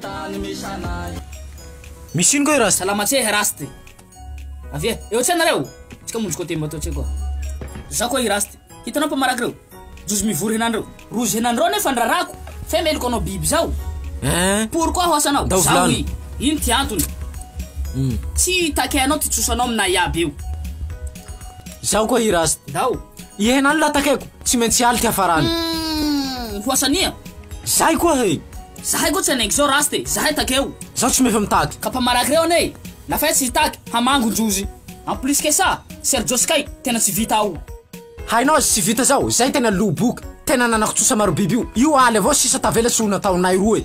Tany misy anay. Misy ino koa i Rasta? Salama tse Rasta. Avia, eo tse nareo? Tsika monjy koa temba teo tse koa. Za koa i Rasta. Hitanao pa maraka reo? Jozy mivory henan reo. Rozy henan reo nefa ny rarako. Fe meloka anao biby zao. Hein? Pourquoi ho asanao? Ndao Za vilano. oui. Ino ty antony? Tsy take anao ty tsosanao aminay iaby io. Zaho koa i Rasta. Ndao. I henan la takeko. Tsy maintsy hialy ty hafarany. Umm, ho asania? Zahay koa he! Zahay koa tsy hanengy zao rasta e! Zahay takeo! Zaho tsy mefa mitady! Ka mpamaraky reo anie na fay tsy hitaky hamangon-jozy! En plus que ça, Sergio sy Kay tena tsy vita ao! Hainao aza tsy vita zao! Zay tena lo boky! Tena nanakotsosa marobiby io! Io aly avao sisa tavela tsy ho nataonay roa e!